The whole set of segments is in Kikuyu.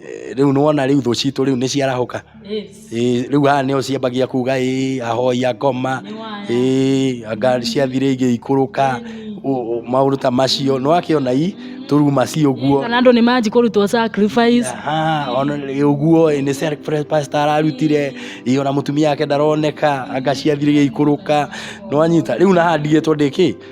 Eh, rĩu nĩwona rĩu thũ citũ rĩu nĩciarahũka Yes. Eh, rĩu haha nĩo ciambagia kuga ĩ ahoya ngoma Nĩ waya. ĩ anga ciathire igĩikũrũka ũ- ũ- maũndũ ta macio nĩwakĩona i tũruma ci ũguo kana andå nä manji kå rutwo sacrifice Aha, ona rĩ ũguo ĩ, nĩ self-press pastor ararutire ĩ, ona mũtumia wake ndaroneka anga ciathire igĩikũrũka nĩwanyita rĩu nahandigĩtwo ndĩkĩ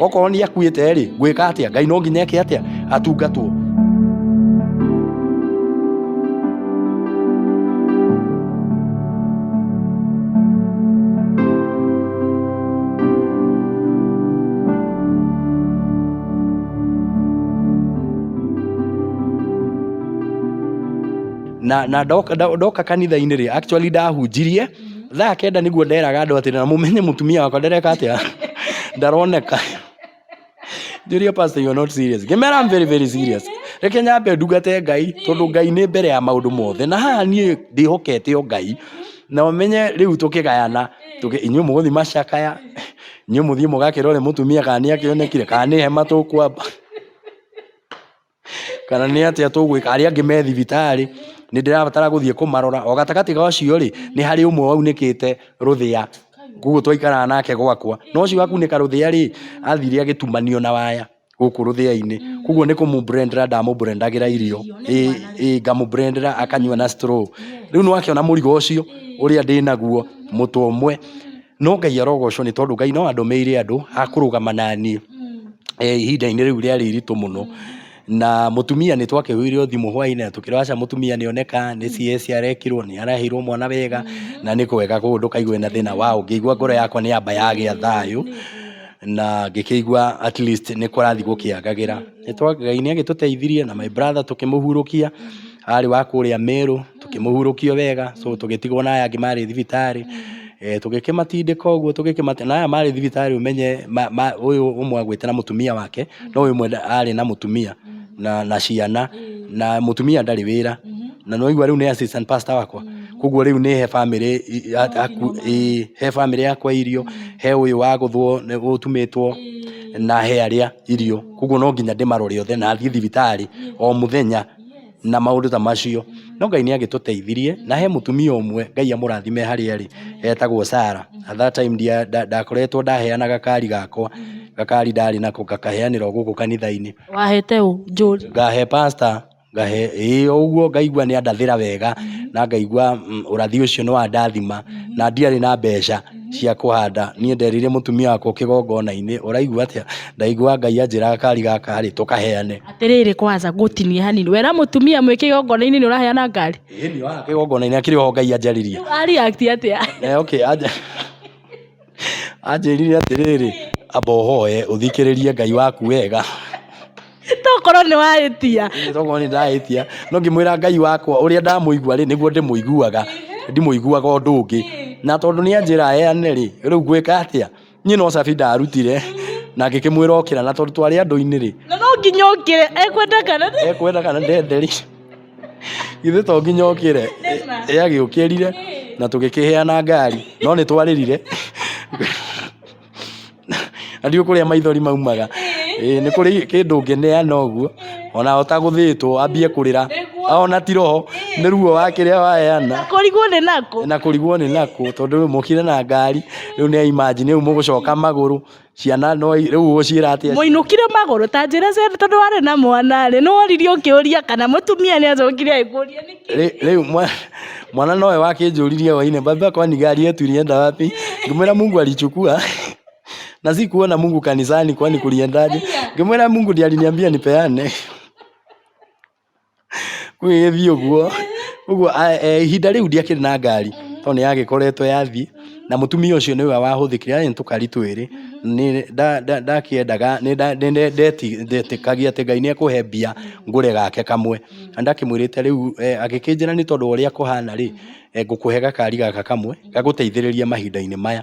okorwo nĩ akuĩte rĩ gwĩka atĩa ngai no nginya eke atĩa atungatwo na na ndoka nda- ndoka kanitha-inĩ rĩ actually ndahunjirie Thaa kenda nĩguo nderaga andũ atĩ na mũmenye mũtumia wakwa ndereka atĩa ndaroneka njũria pastor you are not serious ngĩmera I'm very very serious reke nyambe ndungate ngai tondũ ngai nĩ mbere ya maũndũ mothe na haha niĩ ndĩhokete o ngai na ũmenye rĩu tũkĩgayana tũkĩ- inyuĩ mũgũthiĩ macakaya inyuĩ mũthiĩ mũgakĩrore mũtumia kana nĩ akĩonekire kana nĩ hema tũkwamba kana nĩ atĩa tũgwĩka, arĩa angĩ me thibitarĩ, nĩ ndĩrabatara gũthiĩ kũmarora, o gatagatĩ ga ũcio rĩ, nĩ harĩ ũmwe waunĩkĩte rũthĩa, koguo twaikaraga nake gwakwa, na ũcio wakunĩka rũthĩa rĩ, athire agĩtumanio na waya gũkũ rũthĩa-inĩ, koguo nĩ kũmũ blender ndamũ blender agĩra irio, ĩĩ ngamũ blender akanyua na straw, rĩu nĩ wakĩona mũrigo ũcio ũrĩa ndĩnaguo, mũtwe ũmwe. No Ngai arogocwo nĩ tondũ Ngai no andũmĩire andũ a kũrũgama na niĩ eh, ihinda-inĩ rĩu rĩarĩ iritũ mũno na mũtumia nĩ twakĩhũirwo thimũ hwainĩ na tũkĩrwo aca mũtumia nĩ oneka nĩ CS arekirwo nĩ araheirwo mwana wega na nĩ kwega koguo ndũkaigue na thĩna wa ngĩigua ngoro yakwa nĩ yamba yagĩa thayũ na ngĩkĩigua at least nĩ kũrathiĩ gũkĩagagĩra Nĩ twa- Ngai nĩ agĩtũteithirie na my brother tũkĩmũhurũkia arĩ wa kũrĩa Merũ, tũkĩmũhurũkia wega, so tũgĩtigwo na aya angĩ marĩ thibitarĩ. Eh, tũgĩkĩmatindĩka ũguo tũgĩkĩmate na aya marĩ thibitarĩ ũmenye ma, ma, ũyũ ũmwe agwĩte na mũtumia wake no ũyũ ũmwe nda- arĩ na mũtumia na, na ciana na mũtumia ndarĩ wĩra na noigua rĩu nĩ assistant pastor wakwa koguo rĩu nĩ he bamĩrĩ i- a- aku- ĩ, he bamĩrĩ yakwa irio he ũyũ wagũthwo nĩ- ũtumĩtwo na he arĩa irio koguo no nginya ndĩmarore othe na thiĩ thibitarĩ o mũthenya na maũndũ ta macio. No Ngai nĩ agĩtũteithirie, na he mũtumia ũmwe Ngai amũrathime harĩa arĩ, etagwo Sarah. At that time ndakoretwo ndaheanaga kari gakwa, gakari ndarĩ nako ngakaheanĩra o gũkũ kanitha-inĩ. Wahete ũ? Njũri? Ngahe pastor, ngahe, ĩĩ o ũguo ngaigua nĩ andathĩra wega, na ngaigua ũrathi ũcio nĩ wandathima, na ndiarĩ na mbeca cia kũhanda. Niĩ nderire mũtumia wakwa o kĩgongona-inĩ, ũraigua atĩa? Ndaigua Ngai anjĩraga kari gaka rĩ, tũkaheane. Atĩrĩrĩ kwanza ngũtinie hanini. Wera mũtumia mwĩ kĩgongona-inĩ nĩ ũraheana ngari? Ĩĩ nĩ ohaga kĩgongona-inĩ akĩrĩ oho Ngai anjarĩria. Rĩu a react atĩa? Eh, okay, anja anjĩrire atĩrĩrĩ amba ũhoe ũthikĩrĩrie Ngai waku wega Tokorwo nĩ wahĩtia. tokorwo nĩ ndahĩtia no ngĩmwĩra Ngai wakwa ũrĩa ndamũigua rĩ nĩguo ndĩmũiguaga ndimũiguaga ũndũ ũngĩ na tondũ nĩ anjĩra heane rĩ rĩu ngwĩka atĩa Niĩ no cabi ndarutire na ngĩkĩmwĩra okĩra na tondũ twarĩ andũ-inĩ rĩ. Na no nginya okĩre ekwenda kana ndende. Ekwenda kana ndende rĩ. Githĩ to nginya okĩre. Ĩ agĩũkĩrire na tũgĩkĩheana ngari no nĩ twarĩrire. Na ndiũĩ kũrĩa maithori maumaga. Ĩĩ nĩ kũrĩ kĩndũ ũngĩneana ũguo ona ta gũthĩtwo wambie kũrĩra. Ona ti roho nĩ ruo wa kĩrĩa waheana. Na kũrigwo nĩ nakũ. Na kũrigwo nĩ nakũ tondũ mokire na ngari. rĩu nĩ imagine rĩu mũgũcoka magũrũ ciana no rĩu ũgũciĩra atĩa mũinũkire magũrũ ta njĩra cia tondũ warĩ na mwana rĩ nĩ woririe ũkĩũria kana mũtumia nĩ acokire agĩkũria nĩkĩ Rĩ- rĩu mwa- mwana nowe wakĩnjũririe waine baba kwani gari yetu ilienda wapi ngĩmwĩra mungu alichukua na sikuona mungu kanisani kwani kuliendaje ngĩmwĩra mungu ndiye aliniambia nipeane Gũgĩgĩthiĩ ũguo, ũguo ihinda rĩu ndiakĩrĩ na ngari, tondũ nĩ yagĩkoretwo yathiĩ, na mũtumia ũcio nĩwe wahũthĩkire, arĩ na tũkari twĩrĩ, ndakĩendaga, ndetĩkagia atĩ Ngai nĩ ekũhe mbia ngũre gake kamwe. Na nĩ ndakĩmwĩrĩte rĩu, agĩkĩnjĩra nĩ tondũ wa ũrĩa kũhana rĩ, ngũkũhe gakari gaka kamwe, gagũteithĩrĩrie mahinda-inĩ maya.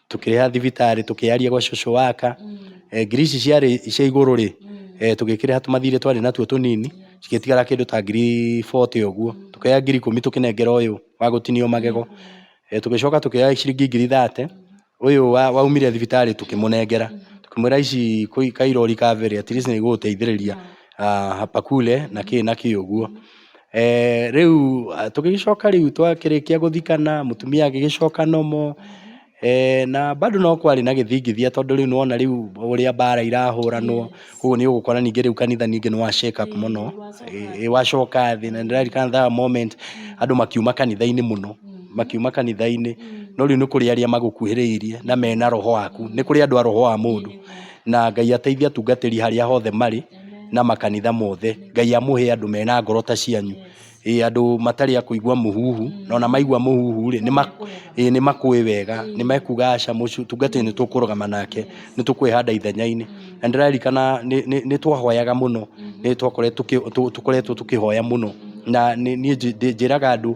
tũkĩrĩha thibitarĩ tũkĩyaria gwa cũcũ waka eh, ngiri ici ciarĩ cia igũrũ rĩ eh, tũgĩkĩrĩha tũmathirĩ twarĩ natuo tũnini cigĩtigara kĩndũ ta ngiri 40 ũguo tũkĩoya ngiri ikũmi tũkĩnengera ũyũ wa gũtinio magego eh, tũgĩcoka tũkĩoya ciringi ngiri 30 ũyũ wa- waumire thibitarĩ tũkĩmũnengera tũkĩmwĩra ici kũi- kairori ka mbere at least nĩ igũgũteithĩrĩria ah, hapa kule na kĩ na kĩ ũguo Rĩu tũgĩgĩcoka rĩu twakĩrĩkia gũthikana, mũtumia agĩgĩcoka normal, na bado no kwarĩ na gĩthingithia tondũ rĩu nĩ wona rĩu ũrĩa mbara irahũranwo, ũguo nĩ ũgũkora ningĩ rĩu kanitha ningĩ nĩ wa shake up mũno, ĩĩ wacoka thĩ, na nĩ ndĩraririkana that moment andũ makiuma kanitha-inĩ mũno, makiuma kanitha-inĩ, no rĩu nĩ kũrĩ arĩa magũkuhĩrĩirie na mena roho waku, nĩ kũrĩ andũ a roho wa mũndũ, na Ngai ateithie atungatĩri harĩa hothe marĩ. na makanitha mothe. Ngai amũhe andũ mena ngoro ta cianyu, ĩĩ andũ matarĩ a kũigua mũhuhu, na ona maigua mũhuhu rĩ, ĩĩ nĩ makũũĩ wega, nĩ mekuuga aca mũtungatĩri nĩ tũkũrũgama nake, nĩ tũkwĩhanda ithenya-inĩ. Na nĩ ndĩraririkana nĩ twahoyaga mũno, nĩ twakoretwo tũkĩhoya mũno, na niĩ njĩraga andũ...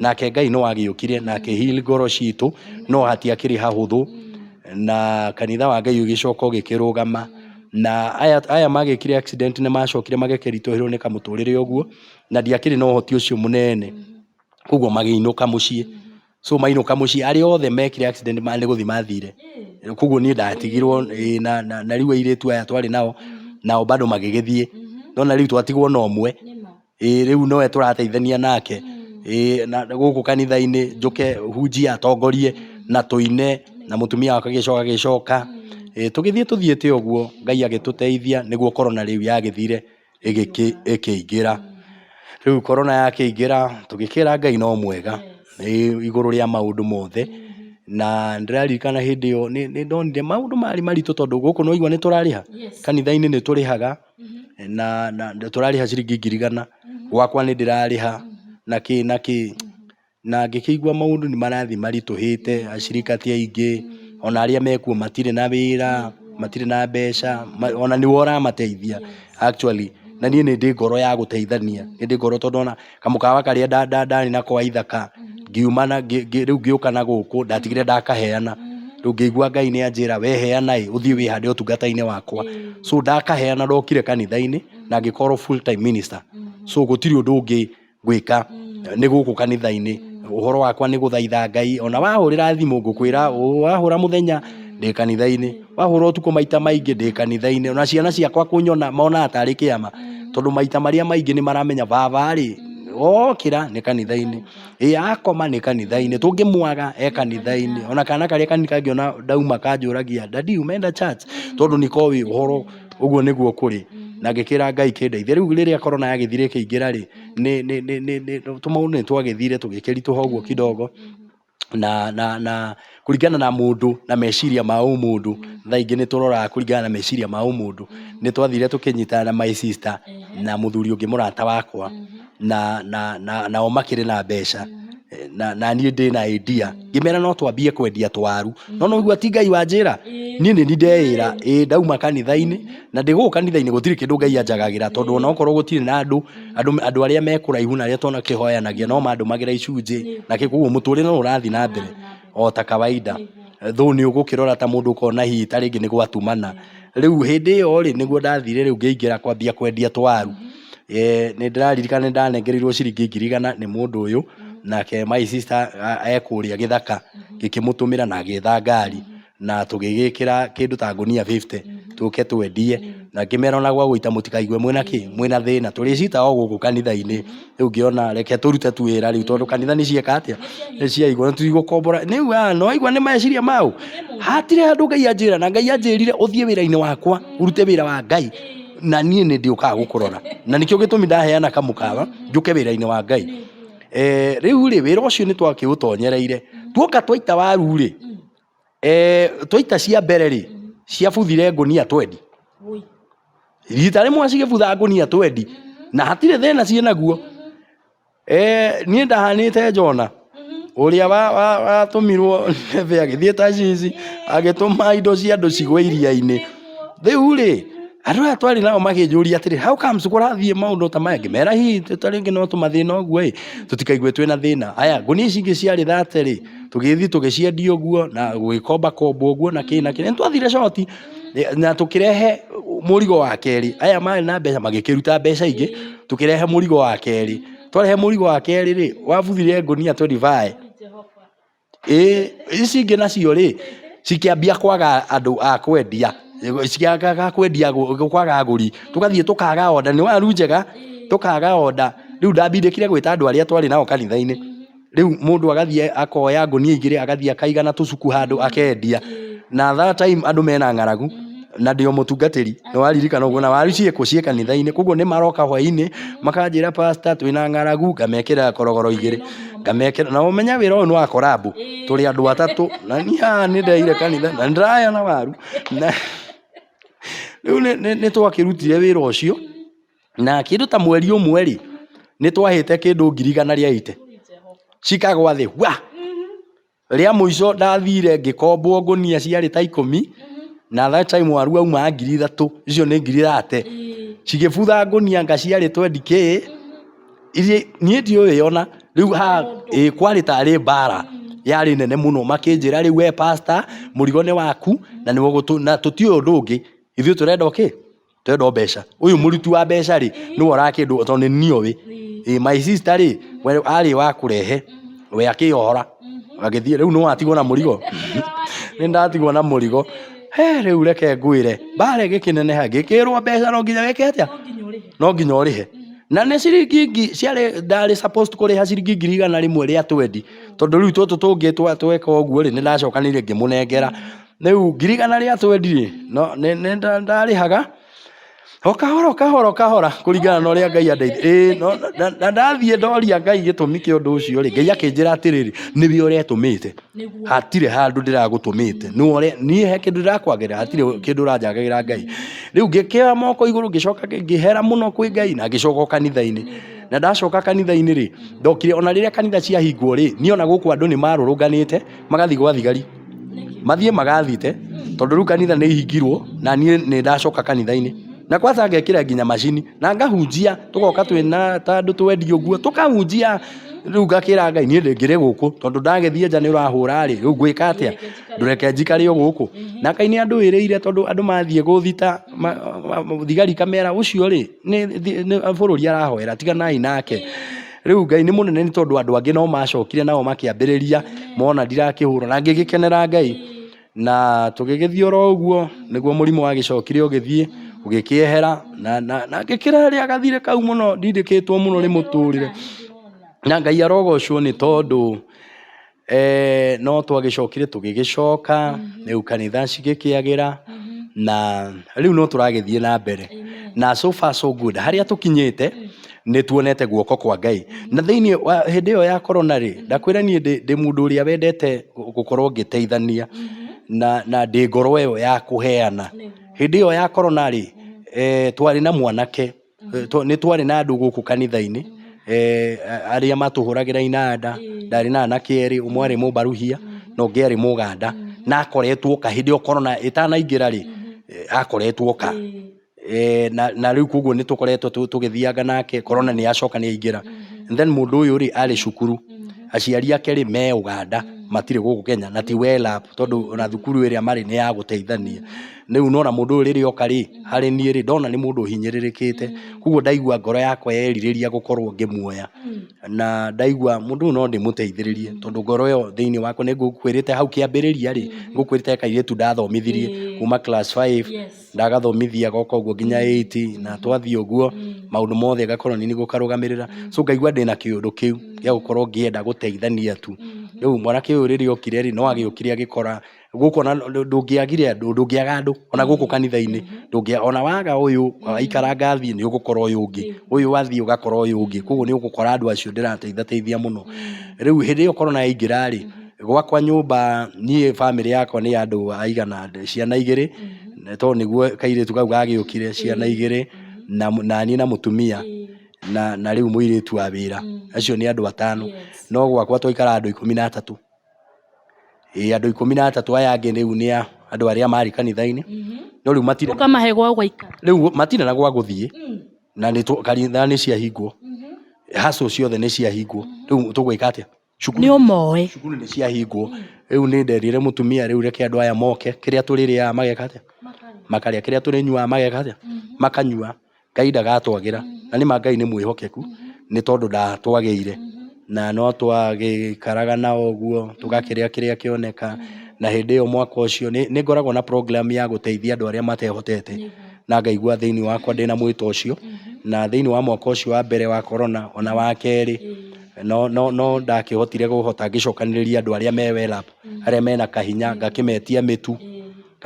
nake ngai no agĩũkire na akĩhil ngoro citũ no hatiakĩrĩ hahũthũ na kanitha wa ngai ũgĩcoka ũgĩkĩrũgama na aya, aya magĩkire accident nĩ macokire magĩkĩritũhĩrwo nĩ kamũtũrĩre ũguo na ndiakĩrĩ na ũhoti ũcio mũnene koguo magĩinũka mũciĩ so mainũka mũciĩ arĩa othe mekire accident ma nĩ gũthiĩ mathire koguo niĩ ndatigirwo ĩ, na, na, na rĩu airĩtu aya twarĩ nao nao bado magĩgĩthiĩ no na rĩu twatigwo na ũmwe Ĩĩ rĩu nowe tũrateithania nake Ĩĩ na gũkũ kanitha-inĩ njũke hunjie atongorie na tũine na mũtumia wakwa agĩcoka agĩcoka Ĩĩ tũgĩthiĩ tũthiĩte ũguo Ngai agĩtũteithia nĩguo korona rĩu yagĩthire ĩgĩkĩ ĩkĩingĩra rĩu korona yakĩingĩra tũgĩkĩra Ngai no mwega Ĩĩ igũrũ rĩa maũndũ mothe na nĩndĩraririkana hĩndĩ ĩyo nĩ nĩndonire maũndũ marĩ maritũ tondũ gũkũ nĩwaigua nĩtũrarĩha kanitha-inĩ nĩtũrĩhaga na na tũrarĩha ciringi ngiri igana gwakwa nĩ ndĩrarĩha na kĩ na kĩ na ngĩkĩigua maũndũ nĩ marathiĩ maritũhĩte acirika ti aingĩ ona arĩa mekuo matirĩ na wĩra matirĩ na mbeca ma- ona nĩwe ũramateithia actually na niĩ nĩ ndĩ ngoro ya gũteithania nĩ ndĩ ngoro tondũ ona kamũkawa karĩa nda- nda- ndarĩ na kwa ithaka ngiuma na ngĩ- ngĩ- rĩu ngĩũka na gũkũ ndatigire ndakaheana rĩu ngĩigua ngai nĩ anjĩra weheana ĩ ũthiĩ wĩhande ũtungata-inĩ wakwa so ndakaheana ndokire kanitha-inĩ na ngĩkorwo full time minister so gũtirĩ ũndũ ũngĩ ngwĩka nĩ gũkũ kanitha-inĩ ũhoro wakwa nĩ gũthaitha ngai ona wahũrĩra thimũ ngũkwĩra wahũra mũthenya ndĩ kanitha-inĩ wahũra ũtukũ maita maingĩ ndĩ kanitha-inĩ ona ciana ciakwa kũnyona monaga tarĩ kĩama tondũ maita marĩa maingĩ nĩ maramenya baba rĩ okĩra nĩ kanitha-inĩ ĩ akoma nĩ kanitha-inĩ tũngĩmwaga e kanitha-inĩ ona kana karĩa kanini kangĩona ndauma kanjũragia dadi umeenda church tondũ nĩko ĩ ũhoro ũguo nĩguo kũrĩ na ngĩkĩra ngai kĩndeithia rĩu rĩrĩa korona yagĩthire ĩkĩingĩra rĩ nĩ- nĩ- nĩ- nĩ- nĩ- tũmaũndũ nĩ twagĩthire tũgĩkĩritũha ũguo kidogo na na na kũringana na mũndũ na meciria ma ũmũndũ thaa ingĩ nĩ tũroraga kũringana na meciria ma ũmũndũ nĩ twathire tũkĩnyitana na my sister na mũthuri ũngĩ mũrata wakwa na na na nao makĩrĩ na mbeca Eh, na na niĩ ndĩ na idea ngĩmera no twambie kwendia twaru no no ũigua ti ngai wanjĩra niĩ nĩ ndeĩra ĩ ndauma kanitha-inĩ na ndĩgũkũ kanitha-inĩ gũtirĩ kĩndũ ngai anjagagĩra tondũ ona okorwo gũtirĩ na andũ andũ andũ arĩa me kũraihu na arĩa twana kĩhoyanagia no mandũmagĩra icunjĩ na kĩ koguo mũtũrĩre no ũrathiĩ na mbere o ta kawaida though nĩ ũgũkĩrora ta mũndũ ũkona hihi ta rĩngĩ nĩ gwatumana rĩu hĩndĩ ĩyo rĩ nĩguo ndathire rĩu ngĩingĩra kwambia kwendia twaru Eh, nĩ ndĩraririkana nĩ ndanengereirwo ciringi ngiri igana nĩ mũndũ ũyũ nake my sister a- ekũrĩa gĩthaka ngĩkĩmũtũmĩra na agĩetha ngari na tũgĩgĩkĩra kĩndũ ta ngũnia fifty tũke twendie na ngĩmera ona gwa gũita mũtikaigue mwĩna kĩ mwĩna thĩna tũrĩcita o gũkũ kanitha-inĩ rĩu ngĩona reke tũrute tu wĩra rĩu tondũ kanitha nĩ cieka atĩa nĩ ciaigwo na tũtigũkombora nĩ wa nĩ waigua nĩ meciria maũ hatire handũ ngai anjĩra na ngai anjĩrire ũthiĩ wĩra-inĩ wakwa urute wĩra wa ngai na niĩ nĩ ndĩũkaga gũkũrora na nĩkĩo gĩtũmi ndaheana kamũkawa njũke wĩra-inĩ wa ngai Eh, rĩu rĩ wĩra ũcio nĩ twakĩũtonyereire tuoka twaita waru rĩ Twaita cia mbere rĩ, ciabuthire ngũnia twendi. Rita rĩmwe cigĩbutha ngũnia twendi, na hatirĩ thĩna ciĩ naguo. Niĩ ndahanĩte Jona, ũrĩa watũmirwo Nineve agĩthiĩ Tarshishi, agĩtũma indo cia andũ cigwe iria-inĩ. Rĩu rĩ, andũ aya twarĩ nao makĩnjũria atĩrĩ, how comes kũrathiĩ maũndũ ta maya? Ngĩmera hihi ta rĩngĩ no tũmathĩna ũguo ĩ, tũtikaigue twĩna thĩna. Aya, ngũnia ici ingĩ ciarĩ thate rĩ. tũgĩthiĩ tũgĩciendia ũguo na gũgĩkomba komba ũguo na kĩ na kĩ nĩ twathire coti eh, na tũkĩrehe mũrigo wa kerĩ aya marĩ na mbeca magĩkĩruta mbeca ingĩ tũkĩrehe mũrigo wa kerĩ twarehe mũrigo wa kerĩ rĩ wabuthire ngũnia 25 ĩ ici ingĩ nacio rĩ cikĩambia kwaga andũ a kwendia ciagaga kwendia agũ- kwaga agũri tũgathiĩ tũkaga oda nĩ waru njega tũkaga oda rĩu ndambindĩkire gwĩta andũ arĩa twarĩ nao kanitha-inĩ Rĩu mũndũ agathiĩ akoya ngũnia igĩrĩ agathiĩ akaiga na tũcuku handũ akendia na that time andũ mena ng'aragu na ndĩ o mũtungatĩri nĩ waririkana ũguo na waru ciĩkũ ciĩ kanitha-inĩ koguo nĩ maroka hwainĩ makanjĩra pasta twĩna ng'aragu ngamekĩra korogoro igĩrĩ ngamekĩra na ũmenya wĩra ũyũ nĩ wa korambũ tũrĩ andũ atatũ na niĩ haha nĩ ndeire kanitha na nĩ ndĩraheana waru na rĩu nĩ twakĩrutire wĩra ũcio Na kĩndũ ta mweri ũmwe rĩ, nĩ twahĩte kĩndũ ngiri igana rĩa ite. Cikagwa thĩ, wa! Rĩa mũico ndathire ngĩkombwo ngũnia ciarĩ ta ikũmi, na that time waru waumaga ngiri ithatũ, icio nĩ ngiri thate. Cigĩbutha ngũnia anga ciarĩ twendi kĩ, irĩa, niĩ ndiũĩ o na, rĩu haa, ĩ kwarĩ tarĩ mbara yarĩ nene mũno. Makĩnjĩra rĩu we pastor, mũrigo nĩ waku, na nĩwe ũgũtũ, na tũtiũĩ ũndũ ũngĩ. Ithuĩ tũrenda o kĩ? ndĩrenda mbeca ũyũ mũruti wa mbeca rĩ nĩwe ũraga kĩndũ tondũ nĩ niĩ oĩ Ĩ, my sister rĩ we arĩ wa kũrehe we akĩyohora agĩthiĩ rĩu nĩ watigwo na mũrigo nĩ ndatigwo na mũrigo he rĩu reke ngwĩre mbare gĩkĩneneha gĩkĩrwo mbeca no nginya wĩke atĩa no nginya ũrĩhe na nĩ ciringi ngi- ciarĩ ndarĩ supposed kũrĩha ciringi ngiri igana rĩmwe rĩa twendi tondũ rĩu tũtũ tũngĩ twa- tweka ũguo rĩ nĩ ndacokanĩire ngĩmũnengera rĩu ngiri igana rĩa twendi rĩ no nĩ nĩ nda- ndarĩhaga o kahora o kahora o kahora kũringana na ũrĩa ngai andeithia ĩĩ no na- na ndathiĩ ndoria ngai gĩtũmi kĩa ũndũ ũcio rĩ ngai akĩnjĩra atĩrĩrĩ nĩwe ũretũmĩte Nĩguo. hatirĩ handũ ndĩragũtũmĩte nĩ ũre niĩ he kĩndũ ndĩrakwagĩra hatirĩ kĩndũ ũranjagagĩra ngai rĩu ngĩkĩoya moko igũrũ ngĩcoka ngĩ- ngĩhera mũno kwĩ ngai na ngĩcoka o kanitha-inĩ na ndacoka kanitha-inĩ rĩ ndokire ona rĩrĩa kanitha ciahingwo rĩ niĩ ona gũkũ andũ nĩ marũrũnganĩte magathiĩ gwa thigari mathiĩ magathite tondũ rĩu kanitha nĩ ihingirwo na niĩ nĩ ndacoka kanitha-inĩ na kwanza ngekĩra nginya macini na ngahunjia tũgoka twĩna ta andũ twendi ũguo tũkahunjia rĩu ngakĩra ngai niĩ ndĩngĩrĩ gũkũ tondũ ndagĩthiĩ nja nĩ ũrahũra rĩ rĩu ngwĩka atĩa ndũreke njikare o gũkũ na ngai nĩ andũĩrĩire tondũ andũ mathiĩ gũthita ma- ma- ma- thigari kamera ũcio rĩ nĩ nĩ bũrũri arahoera tiganai nake Rĩu Ngai nĩ mũnene nĩ tondũ andũ angĩ no macokire nao makĩambĩrĩria mona ndirakĩhũra na ngĩgĩkenera Ngai na tũgĩgĩthiĩ oro ũguo nĩguo mũrimũ wagĩcokire ũgĩthiĩ ũgĩkĩehera na, na, na ngĩkĩrarĩa gathirĩ kau mũno ndindĩkĩtwo mũno nĩ mũtũrĩre na Ngai arogocwo nĩ tondũ Eh, no twagĩcokire tũgĩgĩcoka mhm. rĩu kanitha cigĩkĩagĩra mhm. na rĩu no tũragĩthiĩ na mbere na so far so good harĩa tũkinyĩte mm. nĩ tuonete guoko kwa ngai mm. na thĩinĩ hĩndĩ ĩyo ya korona rĩ mm. ndakwĩra niĩ ndĩ mũndũ ũrĩa wendete gũkorwo ngĩteithania mm-hmm. na, na ndĩ ngoro ĩyo ya kũheana hĩndĩ ĩyo ya korona rĩ eh, twarĩ na mwanake Eh, twa- nĩ twarĩ na andũ gũkũ kanitha-inĩ eh, a- arĩa matũhũragĩra inanda ndarĩ na anake erĩ ũmwe arĩ mũmbaruhia na ũngĩ arĩ mũganda na akoretwo ka hĩndĩ ĩyo korona ĩtanaingĩra rĩ eh, akoretwo ka Eh, na na rĩu koguo nĩ tũkoretwo tũ- tũgĩthianga nake korona nĩ yacoka nĩ yaingĩra And then mũndũ ũyũ rĩ arĩ cukuru aciari ake rĩ me ũganda matirĩ gũkũ kenya na ti welap tondũ ona thukuru ĩrĩa marĩ nĩ ya gũteithania Rĩu nĩwona mũndũ ũyũ rĩrĩa oka rĩ, harĩ niĩ rĩ, ndona nĩ mũndũ ũhinyĩrĩrĩkĩte, koguo ndaigua ngoro yakwa yerirĩria gũkorwo ngĩmuoya, na ndaigua mũndũ ũyũ no ndĩmũteithĩrĩrie, tondũ ngoro ĩyo thĩiniĩ wakwa nĩ ngũkwĩrĩte hau kĩambĩrĩria rĩ, nĩ ngũkwĩrĩte he kairĩtu ndathomithirie kuuma class five, ndagathomithia goka ũguo nginya eight, na twathiĩ ũguo, maũndũ mothe ngakorwo nĩ niĩ ngũkarũgamĩrĩra, so ngaigua ndĩna kĩũndũ kĩu gĩa gũkorwo ngĩenda gũteithania tu. Rĩu mwanake ũyũ rĩrĩa okire rĩ, no agĩũkire agĩkora gũkũ ona ndũ- ndũngĩagire andũ ndũngĩaga andũ ona gũkũ kanitha-inĩ ndũngĩa ona waga ũyũ aikaranga athiĩ nĩ ũgũkora ũyũ ũngĩ ũyũ athiĩ ũgakora ũyũ ũngĩ koguo nĩ ũgũkora andũ acio ndĩrateithateithia mũno rĩu hĩndĩ ĩyo korona yaingĩra rĩ gwakwa nyũmba niĩ bamĩrĩ yakwa nĩ andũ aigana ciana igĩrĩ tondũ nĩguo kairĩtu kau gagĩũkire ciana igĩrĩ na mũ- na niĩ na mũtumia na na rĩu mũirĩtu wa wĩra acio nĩ andũ atano no gwakwa twaikara andũ ikũmi na atatũ Ĩĩ andũ ikũmi na atatũ aya angĩ rĩu nĩ a andũ arĩa marĩ kanitha-inĩ, no rĩu matirĩ ũkamahe gwa gũikara rĩu matirĩ na gwa gũthiĩ, na nĩ tũ kanitha nĩ ciahingwo, hustle ciothe nĩ ciahingwo, rĩu tũgwĩka atĩa? Cukuru nĩ ũmoe cukuru nĩ ciahingwo, rĩu nĩ nderire mũtumia rĩu reke andũ aya moke, kĩrĩa tũrĩrĩaga mageka atĩa? makarĩa, kĩrĩa tũrĩnyuaga mageka atĩa? makanyua. Ngai ndagatwagĩra, na nĩ ma Ngai nĩ mwĩhokeku, nĩ tondũ ndatwagĩire, na no twagĩikaraga na o ũguo, tũgakĩrĩa kĩrĩa kĩoneka, na hĩndĩ ĩyo mwaka ũcio, nĩ nĩ ngoragwo na program ya gũteithia andũ arĩa matehotete, na ngaigua thĩiniĩ wakwa ndĩna mwĩto ũcio, na thĩiniĩ wa mwaka ũcio wa mbere wa korona, ona wa kerĩ, no no no ndakĩhotire kũhota ngĩcokanĩrĩria andũ arĩa me well up arĩa mena kahinya, ngakĩmetia mĩtu.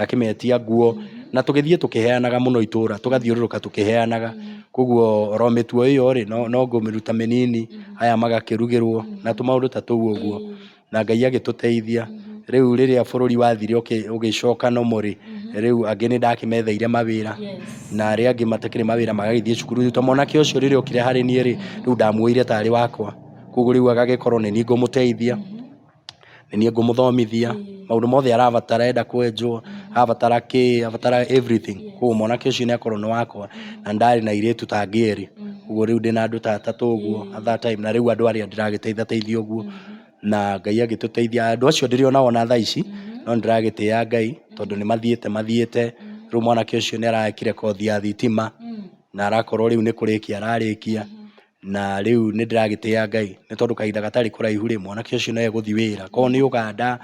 Akĩmetia nguo na tũgĩthiĩ tũkĩheanaga mũno itũũra, tũgathiũrũrũka tũkĩheanaga. Kwoguo o ro mĩtugo ĩyo rĩ, no ngũmĩruta mĩnini, aya magakĩrugĩrwo na tũmaũndũ ta tũu ũguo. Na Ngai agĩtũteithia. Rĩu rĩrĩa bũrũri wathire ũgĩcoka normal rĩ, rĩu angĩ nĩ ndakĩmetheire mawĩra na arĩa angĩ matakĩrĩ mawĩra magagĩthiĩ cukuru. Rĩu ta mwanake ũcio rĩrĩa okire harĩ niĩ rĩ, rĩu ndamuoire ta arĩ wakwa, kwoguo rĩu agagĩkorwo nĩ niĩ ngũmũteithia. nĩ niĩ ngũmũthomithia maũndũ mothe arabatara enda kwenjwo, arabatara kĩ, arabatara everything. Kũguo mwanake ũcio nĩ akorwo nĩ wakwa, na nĩ ndarĩ na airĩtu ta angĩ erĩ. Kũguo rĩu ndĩna andũ ta atatũ ũguo at that time, na rĩu andũ arĩa ndĩragĩteitha teithia ũguo, na Ngai agĩtũteithia. Andũ acio ndĩrĩ o nao ona thaa ici, no nĩ ndĩragĩtĩa Ngai, tondũ nĩ mathiĩte mathiĩte. Rĩu mwanake ũcio nĩ arekire kothi ya thitima, na arakorwo rĩu nĩ kũrĩkia ararĩkia. na rĩu nĩ ndĩragĩtĩa Ngai, nĩ tondũ kahinda gatarĩ kũraihu rĩ, mwanake ũcio nĩ egũthiĩ wĩra. Korwo nĩ Ũganda,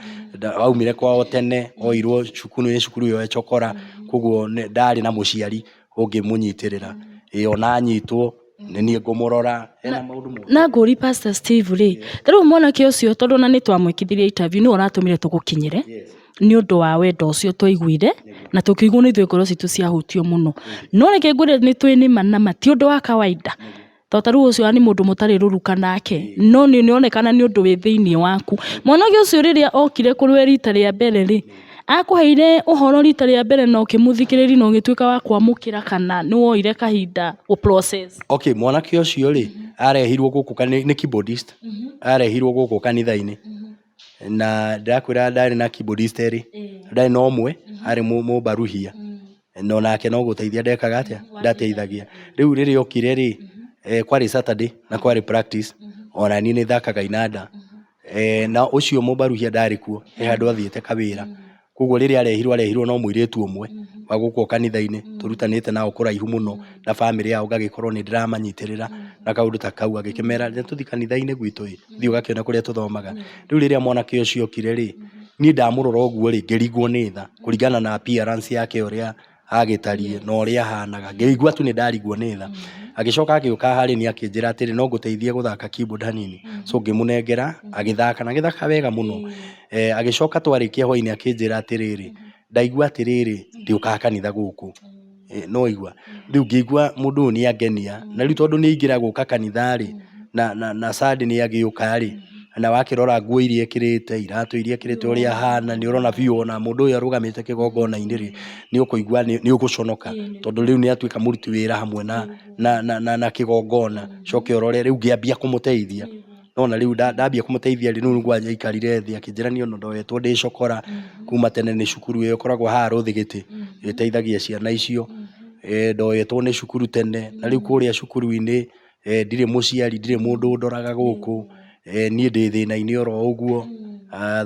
aumire kwao tene, oirwo cukuru nĩ cukuru ĩyo ecokora, kũguo ndarĩ na mũciari ũngĩmũnyitĩrĩra. Ĩ ona anyitwo, nĩ niĩ ngũmũrora, ena maũndũ mothe. Na ngũrie Pastor Steve rĩ, ta rĩu mwanake ũcio tondũ ona nĩ twamwĩkithirie interview nĩwe ũratũmire tũgũkinyĩre. nĩ ũndũ wa wendo ũcio twaiguire, na tũkĩiguo nĩ ithuĩ ngoro citũ ciahutio mũno. No reke ngwĩre nĩ tũrĩ nĩ ma na ma, ti ũndũ wa kawainda. To ta rĩu ũcio nĩ mũndũ mũtarĩ rũruka nake, no nĩ ũronekana nĩ ũndũ wĩ thĩiniĩ waku. Mwanake ũcio rĩrĩa okire kũrĩ we riita rĩa mbere rĩ, akũheire ũhoro riita rĩa mbere na ũkĩmũthikĩrĩria na ũgĩtuĩka wa kwamũkĩra kana nĩ woire kahinda gũ process? Okay, mwanake ũcio rĩ, arehirwo gũkũ kanitha-inĩ, nĩ keyboardist, arehirwo gũkũ kanitha-inĩ. na ndĩrakwĩra ndarĩ na keyboardist erĩ ndarĩ na ũmwe arĩ mũ- mũmbaruhia na onake no gũteithia ndekaga atĩa ndateithagia rĩu rĩrĩa okire rĩ eh, kwarĩ saturday na kwarĩ practice ona niĩ nĩ thakaga inanda Eh, na ũcio mũmbaruhia ndarĩ kuo he handũ athiĩte kawĩra Koguo rĩrĩa arehirwo arehirwo no mũirĩtu ũmwe wa gũkũ o kanitha-inĩ tũrutanĩte nao kũraihu mũno na bamĩrĩ yao ngagĩkorwo nĩ ndĩramanyitĩrĩra na kaũndũ ta kau agĩkĩmera "Reke tũthiĩ kanitha-inĩ gwitũ ĩ, thiĩ ũgakĩone kũrĩa tũthomaga". Rĩu rĩrĩa mwanake ũcio okire rĩ, niĩ ndamũrora ũguo rĩ ngĩringwo nĩ tha kũringana na appearance yake ũrĩa agĩtariĩ na ũrĩa ahaanaga, ngĩigua tu nĩ ndariguo nĩ tha. Agĩcoka agĩũka harĩ niĩ akĩnjĩra atĩrĩ no ngũteithie gũthaka keyboard hanini, so ngĩmũnengera agĩthaka na agĩthaka wega mũno. Eh, agĩcoka twarĩkia hwainĩ akĩnjĩra atĩrĩrĩ, ndaigua atĩrĩrĩ ndiũkaga kanitha gũkũ. Eh, nĩ waigua? Rĩu ngĩigua mũndũ ũyũ nĩ angenia, na rĩu tondũ nĩ aingĩra gũka kanitha-rĩ, na, na, na Sunday nĩ agĩũka-rĩ, na wakĩrora nguo iria ekĩrĩte, iratũ iria ekĩrĩte ũrĩa ahana, nĩ ũrona biũ ona mũndũ ũyũ arũgamĩte kĩgongona-inĩ rĩ, nĩ ũkũigua nĩ ũgũconoka, tondũ rĩu nĩ atuĩka mũruti wĩra hamwe na na na na kĩgongona, ũcoke ũrore rĩu ngĩambia kũmũteithia, nĩ wona rĩu ndambia kũmũteithia rĩ, rĩu nĩguo aikarire thĩ akĩnjĩra niĩ ona ndoyetwo ndĩ cũkũra, kuuma tene nĩ cukuru ĩyo ĩkoragwo haha Rũthigiti, ĩteithagia ciana icio, ndoyetwo nĩ cukuru tene, na rĩu kũrĩa cukuru-inĩ, ndirĩ mũciari, ndirĩ mũndũ ũndoraga gũkũ, niĩ ndĩ thĩna-inĩ oro ũguo,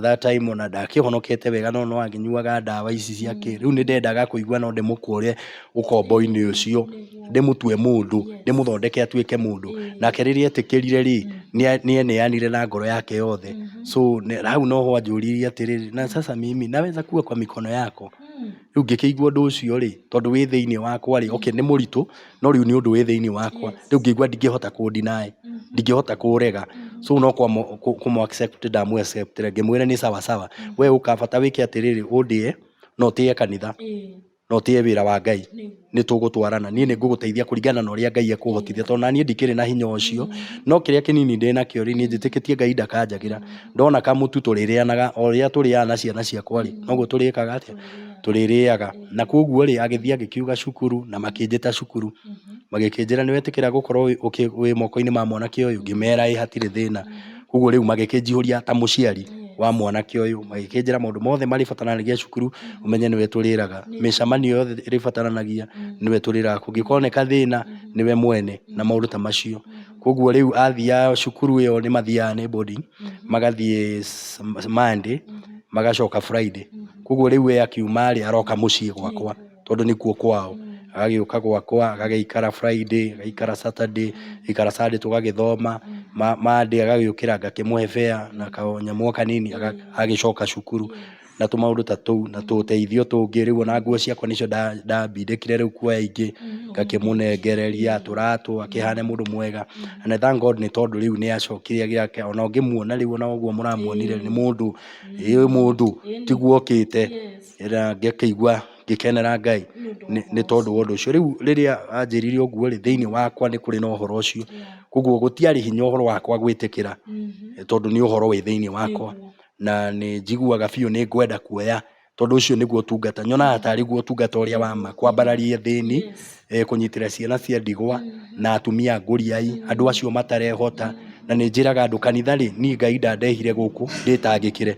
that time ona ndakĩhonokete wega no noakĩnyuaga ndawa ici cia kĩĩ, rĩu nĩ ndendaga kũigua no ndĩmũkũre ũkombo-inĩ ũcio, ndĩmũtue mũndũ, ndĩmũthondeke atuĩke mũndũ, nake rĩrĩa etĩkĩrire rĩ, nĩ eneanire na ngoro yake yothe, so hau noho anjũririe atĩrĩrĩ, na sasa mimi naweza kuwa kwa mikono yako? Rĩu ngĩkĩigua ũndũ ũcio rĩ, tondũ wĩ thĩiniĩ wakwa rĩ, okay nĩ mũritũ, no rĩu nĩ ũndũ wĩ thĩiniĩ wakwa, rĩu ngĩigua ndingĩhota kũ deny, ndingĩhota kũũrega, so no kũmũ accept ndamũ accept -ire, ngĩmwĩra nĩ sawa sawa, we ũka bata wĩke atĩrĩrĩ, ũndĩe, na ũtĩye kanitha, na ũtĩye wĩra wa Ngai. nĩ tũgũtwarana niĩ nĩ ngũgũteithia kũringana na ũrĩa Ngai ekũhotithia tondũ naniĩ ndikĩrĩ na hinya ũcio no kĩrĩa kĩnini ndĩ nakĩo rĩ niĩ njĩtĩkĩtie Ngai ndakanjagĩra ndona kamũtu tũrĩrĩanaga o ũrĩa tũrĩaga na ciana ciakwa rĩ noguo tũrĩkaga atĩa tũrĩrĩaga na kwoguo rĩ agĩthiĩ agĩkiuga cukuru na makĩnjĩta cukuru magĩkĩnjĩra nĩwetĩkĩra gũkorwo wĩ mokoinĩ ma mwanake ũyũ ngĩmera ĩĩ hatirĩ thĩna. Koguo rĩu magĩkĩnjihũria ta mũciari wa mwanake ũyũ, magĩkĩnjĩra maũndũ mothe marĩbataranagia cukuru, ũmenye nĩwe tũrĩraga. Mĩcamanio yothe ĩrĩbataranagia, nĩwe tũrĩraga. Kũngĩkoneka thĩna, nĩwe mwene, na maũndũ ta macio. Koguo rĩu athiaga cukuru ĩyo nĩ mathiaga nĩ boarding, magathiĩ Monday, magacoka Friday. Koguo rĩu we akiuma rĩ, aroka mũciĩ gwakwa. tondũ nĩkuo kwao. Agagĩũka gwakwa, agagĩikara Friday, agaikara Saturday, agaikara Sunday tũgagĩthoma, Monday agagĩũkĩra ngakĩmũhe fare na kanyamũ o kanini agagĩcoka cukuru na tũmaũndũ ta tũu na tũteithio tũngĩ. Rĩu ona nguo ciakwa nĩcio ndabindĩkire rĩu kuoya ingĩ ngakĩmũnengereria, tũratũ, akĩhane mũndũ mwega. And I thank God nĩ tondũ rĩu nĩacokire agĩa fare ona ũngĩmuona rĩu ona ũguo mũramuonire nĩ mũndũ, ĩĩ mũndũ tiguo okĩte. na ngakĩigua ngĩkenera Ngai nĩ nĩ tondũ wa ũndũ ũcio. Rĩu rĩrĩa anjĩrire ũguo-rĩ, thĩiniĩ wakwa nĩ kũrĩ na ũhoro ũcio. Koguo gũtiarĩ hinya ũhoro wakwa gwĩtĩkĩra tondũ nĩ ũhoro wĩ thĩiniĩ wakwa, na nĩ njiguaga biũ nĩ ngwenda kuoya tondũ ũcio nĩguo ũtungata. Nyonaga tarĩ guo ũtungata ũrĩa wa ma, kwambararia thĩni kũnyitĩrĩra ciana cia ndigwa na atumia ngũriai, andũ acio matarehota. Na nĩ njĩraga andũ kanitha rĩ, niĩ Ngai ndandehire gũkũ ndĩtangĩkĩre,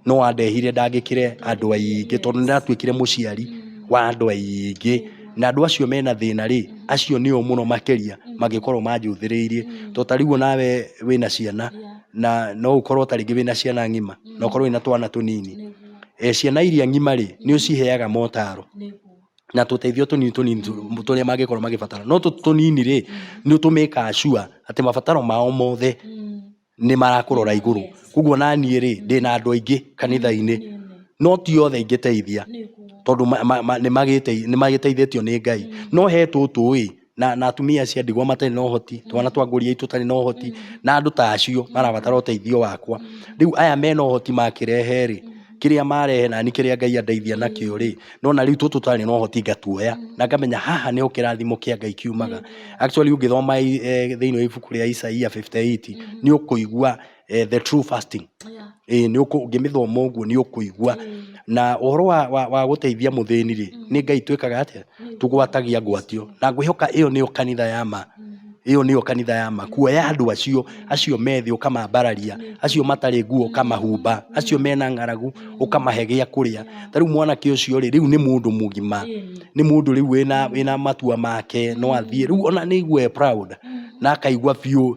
no andehire ndangĩkĩre andũ aingĩ tondũ nĩ ndatuĩkire mũciari wa andũ aingĩ. Na andũ acio mena thĩna rĩ, acio nĩo mũno makĩria mangĩkorwo manjũthĩrĩirie. To ta rĩu o nawe wĩna ciana, na no ũkorwo ta rĩngĩ wĩna ciana ng'ima, na ũkorwo wĩna twana tũnini. Ciana iria ng'ima rĩ, nĩ ũciheaga motaro. na tũteithio tũnini tũnini tũ- tũrĩa mangĩkorwo magĩbatara no tũtũ tũnini rĩ nĩ tũmĩkaga sure atĩ mabataro mao mothe nĩ marakũrora igũrũ koguo naniĩ rĩ ndĩ na andũ aingĩ kanitha-inĩ no ti othe ingĩteithia tondũ ma- ma- ma- nĩ magĩtei- nĩ magĩteithĩtio nĩ ngai no he tũtũ ĩ na, na atumia acio a ndigwa matarĩ na ũhoti twana twa ngũriai tũtarĩ na ũhoti na andũ ta acio marabatara ũteithio wakwa rĩu aya mena ũhoti makĩrehe rĩ kĩrĩa marehe nani kĩrĩa ngai andeithia nakĩo rĩ nona rĩu tũtũ tũtarĩ na ũhoti ngatuoya na ngamenya haha nĩho kĩrathimo kĩa ngai kiumaga actually ũngĩthoma i- eh, thĩinĩ wa ibuku rĩa isaia 58 nĩ ũkũigua eh, the true fasting Yeah. ĩĩ nĩ ũkũ- ũngĩmĩthoma ũguo nĩ ũkũigua na ũhoro wa, wa, wa gũteithia mũthĩni rĩ nĩ ngai twĩkaga atĩa tũgwatagia ngwatio na ngwĩhoka ĩyo nĩyo kanitha ya ma ĩyo nĩyo kanitha ya ma kuoya andũ acio acio methĩ ũkamambararia acio matarĩ nguo ũkamahumba acio mena ng'aragu ũkamahe gĩa kũrĩa ta rĩu mwanake ũcio rĩ rĩu nĩ mũndũ mũgima nĩ mũndũ rĩu wĩna, wĩna matua make no athiĩ rĩu ona nĩ aigue e proud na akaigua biũ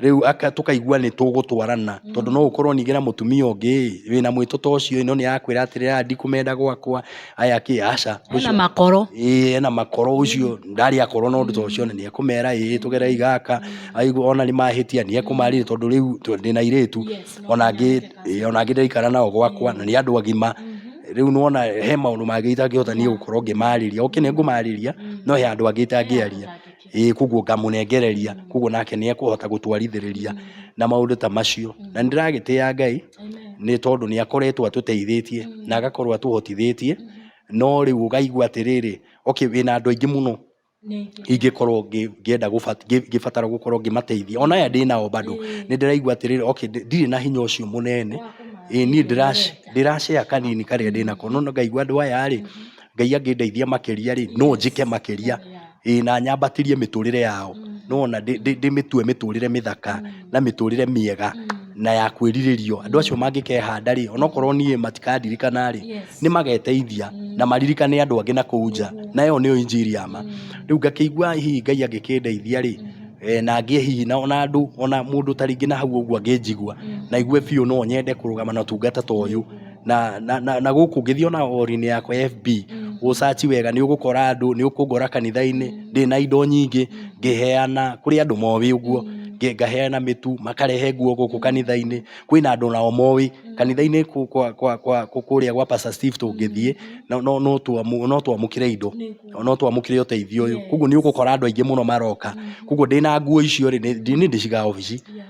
rĩu aka- tũkaigua nĩ tũgũtwarana tondũ no ũkorwo ningĩ na mũtumia ũngĩ ĩ, wĩna mwĩtũ ta ũcio ĩ, no nĩ akwĩra atĩrĩ "Ah, ndikũmenda gwakwa aya kĩ aca hena makoro ĩĩ ena makoro ũcio ndarĩ akorwo na ũndũ ta ũcio na nĩ ekũmera ĩĩ tũgerei gaka aigua ona nĩ mahĩtia nĩ ekũmarĩria tondũ rĩu tũ- ndĩ na irĩtu Yes, no ona angĩ ĩĩ, ona angĩ ndaikara nao gwakwa na nĩ andũ agima rĩu nona he maũndũ mangĩ itangĩhota niĩ gũkorwo ngĩmarĩria oke nĩ ngũmarĩria no he andũ angĩ itangĩaria ĩĩ koguo ngamũnengereria, koguo nake nĩ ekũhota gũtwarithĩrĩria na maũndũ ta macio. Na nĩ ndĩragĩtĩa Ngai nĩ tondũ nĩ akoretwo atũteithĩtie na agakorwo atũhotithĩtie, no rĩu ũkaigua atĩrĩrĩ, okay wĩna andũ aingĩ mũno ingĩkorwo ngĩenda ngĩbatara gũkorwo ngĩmateithia. Ona aya ndĩnao bado nĩ ndĩraigua atĩrĩrĩ okay ndirĩ na hinya ũcio mũnene, ĩĩ niĩ ndĩra share kanini karĩa ndĩnako, no ngaigua andũ aya rĩ... ngai angĩndeithia makĩria rĩ no njĩke makĩria ĩĩ na nyambatĩrie mĩtũrĩre yao nona ndĩmĩtue mĩtũrĩre mĩthaka na mĩtũrĩre mĩega na ya kwĩrirĩrio andũ acio mangĩkehanda rĩ onokorwo niĩ matikandirikana rĩ nĩ mageteithia na maririkane andũ angĩ na kũu nja na ĩyo nĩyo injiri ya ma rĩu ngakĩigua hihi ngai angĩkĩndeithia rĩ eh, na ngĩe hihi na ona andũ ona mũndũ ta rĩngĩ na hau ũguo angĩnjigua na igue biũ no nyende kũrũgama na ũtungata ta ũyũ na, na, na, na gũkũ ngĩthiĩ ona orinĩ yakwa ya fb gũcaci wega nĩ ũgũkora andũ nĩ ũkũngora kanitha-inĩ ndĩ na indo nyingĩ ngĩheana kũrĩ andũ moĩ ũguo nge- ngaheana mĩtu makarehe nguo gũkũ kanitha-inĩ kwĩna andũ nao moĩ kanitha-inĩ kũ- kwa- kwa- kwa- kũ- kũrĩa gwa Pastor Steve tũngĩthiĩ no- no no twamu- no twamũkĩre indo no twamũkĩre ũteithio ũyũ koguo nĩ ũgũkora andũ aingĩ mũno maroka koguo ndĩ na nguo icio rĩ nĩ nĩ ndĩcigaga obici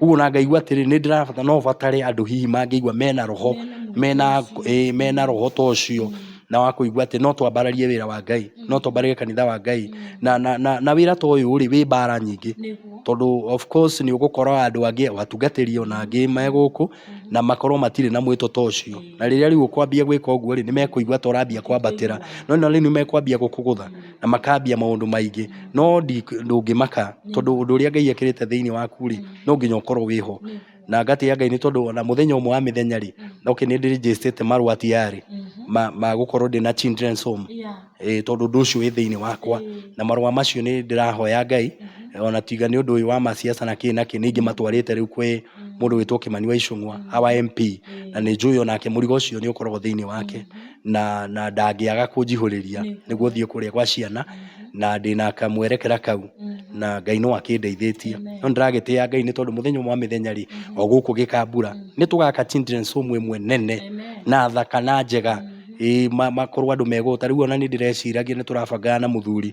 Ũguo na ngaigua atĩrĩ nĩ ndĩrabatara no batare andũ hihi mangĩigua mena roho mena ĩĩ mena roho ta ũcio na wa kũigua atĩ no twambararie wĩra wa Ngai no twambararie kanitha wa Ngai na na na, na wĩra ta ũyũ rĩ wĩ mbara nyingĩ Nĩguo. tondũ of course nĩ ũgũkora andũ angĩ atungatĩri ona angĩ me gũkũ na makorwo matirĩ na mwĩto ta ũcio na rĩrĩa rĩu ũkwambia gwĩka ũguo rĩ nĩ mekũigua ta ũrambia kwambatĩra no na rĩu nĩ mekwambia gũkũgũtha na makambia maũndũ maingĩ no ndũngĩmaka tondũ ũndũ ũrĩa Ngai ekĩrĩte thĩinĩ waku rĩ no nginya ũkorwo wĩho na ngatĩa Ngai nĩ tondũ ona mũthenya ũmwe wa mĩthenya rĩ okay nĩ ndĩ register ĩte marũa tiyarĩ ma gũkorwo ndĩna children's home tondũ ũndũ ũcio wĩ thĩinĩ wakwa na marũa macio nĩ ndĩrahoya Ngai ona tiga nĩ ũndũ ũyũ wa maciaca na kĩ na kĩ nĩ ingĩmatwarĩte rĩu kwĩ mũndũ wĩtwo Kimani wa Icũng'wa our MP na nĩ njũĩ onake mũrigo ũcio nĩ ũkoragwo thĩinĩ wake. na na ndangĩaga kũnjihũrĩria nĩguo thiĩ kũrĩa gwa ciana na ndĩna kamwerekera kau na Ngai no akĩndeithĩtie no nĩndĩragĩtĩa Ngai nĩ tondũ mũthenya ũmwe wa mĩthenya rĩ o gũkũ gĩkambura nĩ tũgaka children's home ĩmwe nene na thaka na njega ĩĩ ma- makorwo andũ megũta rĩu ona nĩ ndĩreciragia nĩ tũrabangaga na mũthuri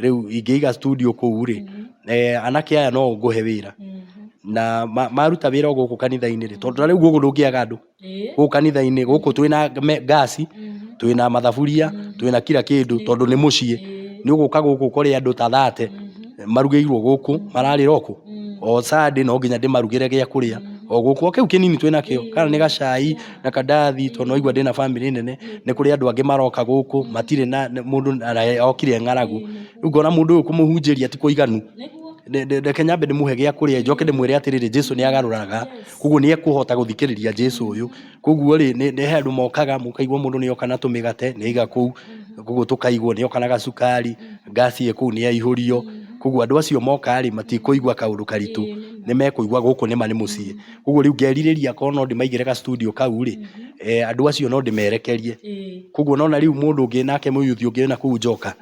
rĩu ingĩiga studio kũu rĩ, eh, anake aya no ngũhe wĩra na ma- maruta wĩra o gũkũ kanitha-inĩ rĩ tondũ na rĩu gũkũ ndũngĩaga andũ Ĩĩ. gũkũ kanitha-inĩ gũkũ twĩ na me- ngasi twĩ na mathaburia twĩ na kira kĩndũ tondũ nĩ mũciĩ nĩ ũgũka gũkũ ũkore andũ ta thate marugĩirwo gũkũ mararĩra okũ o sande no nginya ndĩmarugĩre gĩa kũrĩa o gũkũ o kĩu kĩnini twĩ nakĩo kana nĩ gacai na kandarathi tondũ nĩ waigua ndĩna bamĩrĩ nene, nĩ kũrĩ andũ angĩ maroka gũkũ matirĩ na, mũndũ okire e ng'aragu, rĩu ngona mũndũ ũyũ kũmũhunjĩria ti kũiganu, reke nyambe ndĩmũhe gĩa kũrĩa njoke ndĩmwĩre atĩrĩrĩ Jesu nĩ agarũraga, koguo nĩ ekũhota gũthikĩrĩria Jesu ũyũ, koguo rĩ, he andũ mokaga mũkaigua mũndũ nĩ oka na tũmĩgate nĩ aiga kũu, koguo tũkaigwo, nĩ oka na gacukari, ngaci ĩ kũu nĩ yaihũrio, koguo andũ acio moka rĩ, matikũigua kaũndũ karitũ, nĩ mekũigua gũkũ nĩ ma nĩ mũciĩ. koguo rĩu ngerirĩria korwo no ndĩmaigĩre ga studio kau rĩ eh, andũ acio no ndĩmerekerie Ĩĩ. koguo nona rĩu mũndũ ũngĩ nake mũyuthi ũngĩ wĩna kũu njoka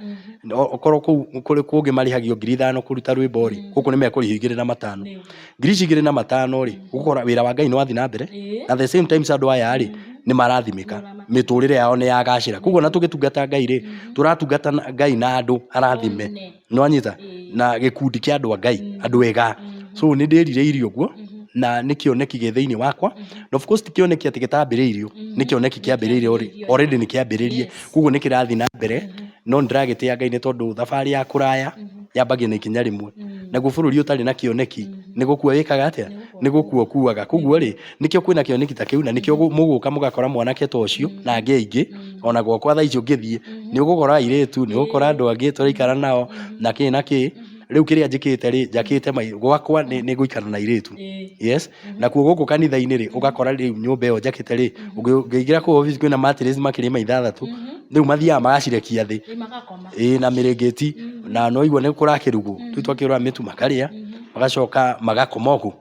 No- okorwo kũu kũrĩ kũngĩ marĩhagio ngiri ithano kũruta rwĩmbo rĩ gũkũ nĩ mekũrĩhio igĩrĩ na matano Nĩyo. ngiri ici igĩrĩ na matano rĩ ũgũkora wĩra wa ngai nĩ wathiĩ na mbere Ĩĩ. na the same times andũ aya rĩ nĩ marathimĩka mĩtũrĩre yao nĩ yagacĩra koguo na tũgĩtungata ngai rĩ tũratungata na- ngai na andũ arathime One. Nĩ wanyita? Na gĩkundi kĩa andũ a Ngai, andũ ega. So nĩ ndĩrirĩirie ũguo, na nĩ kĩoneki gĩ thĩinĩ wakwa, na of course ti kĩoneki atĩ gĩtambĩrĩirio, nĩ kĩoneki kĩambĩrĩirio already nĩ kĩambĩrĩrie, kũguo nĩ kĩrathiĩ na mbere, no nĩ ndĩragĩtĩa Ngai nĩ tondũ thabarĩ ya kũraya, yambagia na ikinya rĩmwe. Naguo bũrũri ũtarĩ na kĩoneki, nĩ gũkua wĩkaga atĩa? Nĩ gũkua ũkuaga. Kũguo rĩ, nĩkĩo kwĩna kĩoneki ta kĩu na nĩkĩo gũ- mũgũka mũgakora mwanake ta ũcio na angĩ aingĩ ona gwakwa thaa ici ũngĩthiĩ nĩ ũgũkora airĩtu nĩ ũgũkora andũ angĩ tũraikara nao na kĩ na kĩ rĩu kĩrĩa njĩkĩte rĩ njakĩte mai- gwakwa nĩ nĩ gũikara na airĩtu yes na kuo gũkũ kanitha-inĩ rĩ ũgakora rĩu nyũmba ĩyo njakĩte rĩ ũngĩ- ũngĩingĩra kũu obici kwĩna matirĩci makĩria ma ithathatũ rĩu mathiaga magacirekia thĩ Ĩ, magakoma ĩĩ na mĩrĩngĩti na noigua nĩ kũrakĩrugwo rĩu twakĩũra mĩtu makarĩa magacoka magakoma ũguo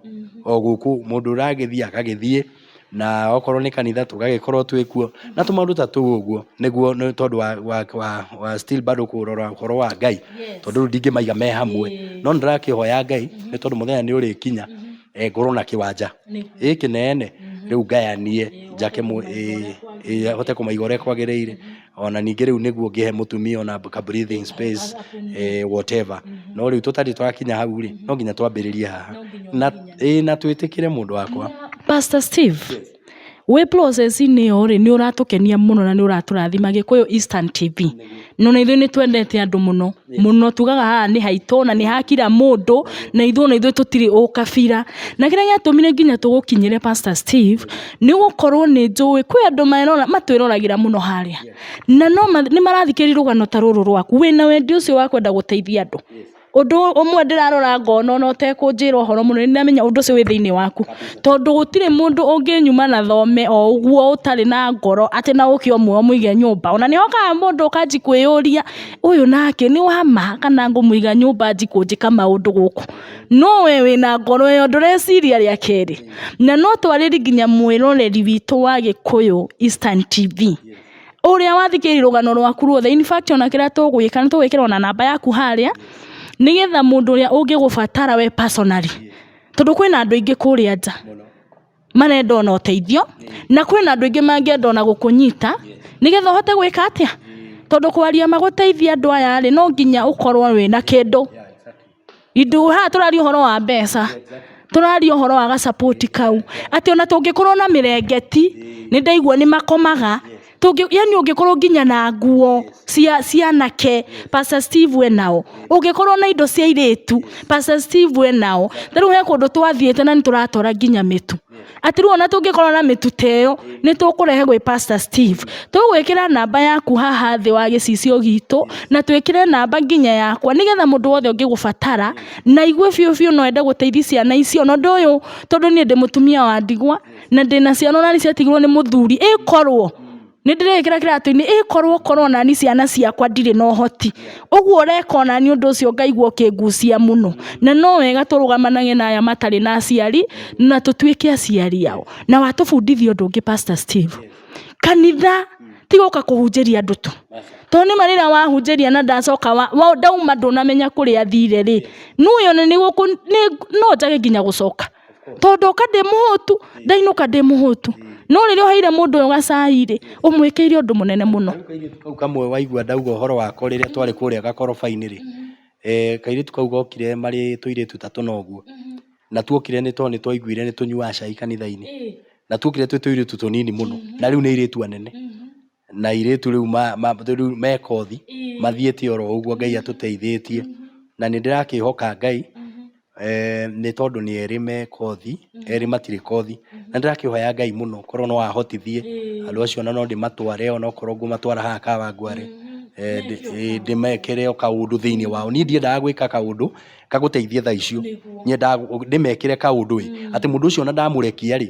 o gũkũ, mũndũ ũragĩthiĩ agagĩthiĩ, na okorwo nĩ kanitha tũgagĩkorwo twĩ kuo, na tũmaũndũ ta tũu ũguo, nĩguo nĩ tondũ wa wa wa wa still bado kũrora ũhoro wa Ngai, tondũ rĩu ndingĩmaiga me hamwe, no nĩ ndĩrakĩhoya Ngai, nĩ tondũ mũthenya nĩ ũrĩkinya, eeh ngorwo na kĩwanja gĩkĩ kĩnene, rĩu ngayanie, njake mũ ĩĩ ĩĩ hote kũmaiga ũrĩa kwagĩrĩire. ona ningĩ rĩu nĩguo ngĩhe mũtumia ona ka breathing space eh, whatever no rĩu tũtarĩ twakinya hau rĩ no nginya twambĩrĩrie haha na ĩ na twĩtĩkĩre mũndũ wakwa pastor steve wĩ process-inĩ ĩyo rĩ nĩ ũratũkenia mũno na nĩ ũratũrathima gĩkũyũ eastern tv no na ithuĩ nĩ twendete andũ mũno mũno tugaga haha nĩ haitũ na nĩ ha kira mũndũ na ithuĩ ona ithuĩ tũtirĩ ũkabira. Na kĩrĩa gĩatũmire nginya tũgũkinyĩre Pastor Steve nĩ gũkorwo nĩ njũĩ kwĩ andũ matwĩroragĩra mũno harĩa na nĩ marathikĩrĩria rũgano ta rũrũ rwaku wĩna wendi ũcio wa kwenda gũteithia andũ. Ũndũ ũmwe ndĩrarora ngona ona ũtekũnjĩra ũhoro mũnene nĩ ndĩramenya ũndũ ũcio wĩ thĩinĩ waku. Tondũ gũtirĩ mũndũ ũngĩnyuma na thome o ũguo ũtarĩ na ngoro atĩ no ũke ũmwoe ũmũige nyũmba. Ona nĩ hokaga mũndũ ũkanjia kwĩyũria... ũyũ nake nĩ wa ma kana ngũmũiga nyũmba njikũnjĩka maũndũ gũkũ no we wĩna ngoro ĩyo ndũreciria rĩa kerĩ na no twarĩri nginya mwĩroreri witũ wa gĩkũyũ Eastern TV ũrĩa wathikĩrĩria rũgano rwaku ruothe in fact ona kĩrĩa tũgwĩka nĩ tũgwĩkĩra ona namba yaku harĩa nĩgetha mũndũ ũrĩa ũngĩgũbatara we personally tondũ kwĩna andũ aingĩ kũrĩa nja marenda ona ũteithio na kwĩna andũ aingĩ mangĩenda ona gũkũnyita nĩgetha ũhote gwĩka atĩa tondũ kwaria magũteithia andũ aya rĩ no nginya ũkorwo wĩna kĩndũ ithu haha tũraria ũhoro wa mbeca tũraria ũhoro wa ga support kau atĩ ona tũngĩkorwo na mĩrengeti nĩndaigua nĩmakomaga. tũngĩ yani ũngĩkorwo nginya na nguo cia cia anake pastor steve we nao ũngĩkorwo na indo cia airĩtu pastor steve we nao ta rĩu he kũndũ twathiĩte na nĩ tũratwara nginya mĩtu atĩ rĩu ona tũngĩkorwo na mĩtu ta ĩyo nĩ tũkũrehe gwĩ pastor steve tũgwĩkĩra namba yaku haha thĩ wa gĩcicio gitũ na twĩkĩre namba nginya yakwa nĩgetha mũndũ wothe ũngĩgũbatara na aigue biũ biũ no ende gũteithia ciana icio na ũndũ ũyũ tondũ niĩ ndĩ mũtumia wa ndigwa na ndĩ na ciana onani ciatigirwo nĩ mũthuri ĩkorwo nĩ ndĩrĩkĩra kĩratũ-inĩ ĩkorwo korwo nani ciana ciakwa ndirĩ na ũhoti ũguo ũreka onani ũndũ ũcio ngaigua ũkĩngucia mũno na no wega tũrũgamanage na aya matarĩ na aciari na tũtuĩke aciari ao na watũbundithia ũndũ ũngĩ pastor Steve kanitha ti gũka kũhunjĩria andũ tu tondũ nĩma rĩrĩa wahunjĩria na ndacoka wa, wa, ndauma ndũnamenya kũrĩa thire rĩ nũyone nĩ gũkũ nĩ- no njage nginya gũcoka to ndoka ndĩ mũhũtu ndainũka ndĩ mũhũtu no rĩrĩa ũheire mũndũ ũyũ gacai rĩ ũmwĩkĩire ũndũ mũnene mũno Kau kairĩtu kau kamwe waigua ndauga ũhoro wako rĩrĩa twarĩ kũrĩa gakoroba-inĩ rĩ, eh, kairĩtu kau gokire marĩ tũirĩtu ta tũna ũguo, na tuokire nĩ tondũ nĩ twaiguire nĩ tũnyuaga cai kanitha-inĩ, na tuokire twĩ tũirĩtu tũnini mũno, na rĩu nĩ airĩtu anene. na airĩtu rĩu me kothi mathiĩte oro ũguo Ngai atũteithĩtie na nĩ ndĩrakĩhoka Ngai nĩ tondũ nĩ erĩ me kothi, erĩ matirĩ kothi na nĩ ndĩrakĩhoya Ngai mũno korwo no ahotithie andũ acio ona no ndĩmatware ona korwo ngũmatwara haha Kawangware ndĩmekĩre o kaũndũ thĩinĩ wao. Niĩ ndiendaga gwĩka kaũndũ gagũteithie thaa icio, nyendaga ndĩmekĩre kaũndũ ĩ atĩ mũndũ ũcio ona ndamũrekia rĩ...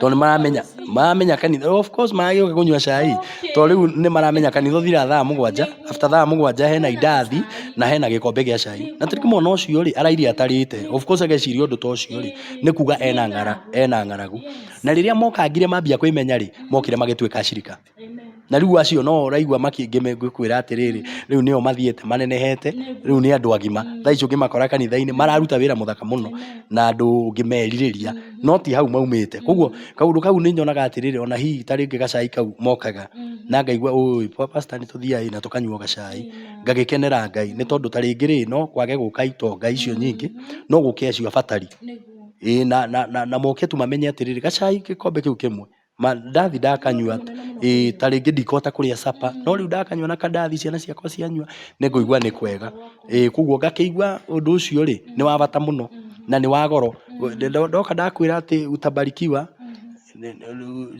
Tondũ nĩ maramenya, maramenya kanitha, of course magagĩũka kũnyua cai, tondũ rĩu nĩ maramenya kanitha ũthira thaa mũgwanja, after thaa mũgwanja hena indathi, na hena gĩkombe gĩa cai. Na tarĩngĩ mwana ũcio rĩ, araire atarĩte, of course ageciria ũndũ ta ũcio rĩ, nĩ kuuga ena ng'ara, ena ng'aragu. Na rĩrĩa moka ngirĩ mambia kwĩmenya rĩ, mokire magĩtuĩka acirika. Na rĩu acio no ũraigua makĩngĩ magĩkwĩra atĩrĩrĩ, rĩu nĩo mathiĩte manenehete, rĩu nĩ andũ agima. Thaa ici ũngĩmakora kanitha-inĩ mararuta wĩra mũthaka mũno na andũ ũngĩmerirĩria, no ti hau maumĩte. Kwoguo kaũndũ kau nĩ nyonaga atĩrĩrĩ, o na hihi ta rĩngĩ gacai kau mokaga, na ngaigua ũũĩ gwa pacita nĩ tũthiaga ĩ na tũkanyua gacai, ngagĩkenera Ngai. Nĩ tondũ ta rĩngĩ rĩ, no kwage gũka itonga icio nyingĩ, no gũke acio abatari. Ĩĩ na moke tu mamenye atĩrĩrĩ, gacai gĩkombe kĩu kĩmwe Mandathi ndakanyua, ĩ ta rĩngĩ ndikũhota kũrĩa supper, no rĩu ndakanyua na kandathi ciana ciakwa cianyua, nĩ ngũigua nĩ kwega. Ĩ kũguo ngakĩigua ũndũ ũcio rĩ, nĩ wa bata mũno na nĩ wa goro. Ndoka ndakwĩra atĩ utabarikiwa,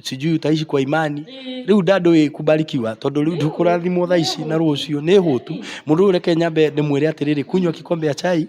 sijui utaishi kwa imani, rĩu nda ndũĩ kubarikiwa tondũ rĩu ndũkũrathimwo thaa ici na rũciũ, nĩ hũtu. Mũndũ ũyũ reke nyambe ndĩmwĩre atĩrĩrĩ, kunywa kikombe ya chai.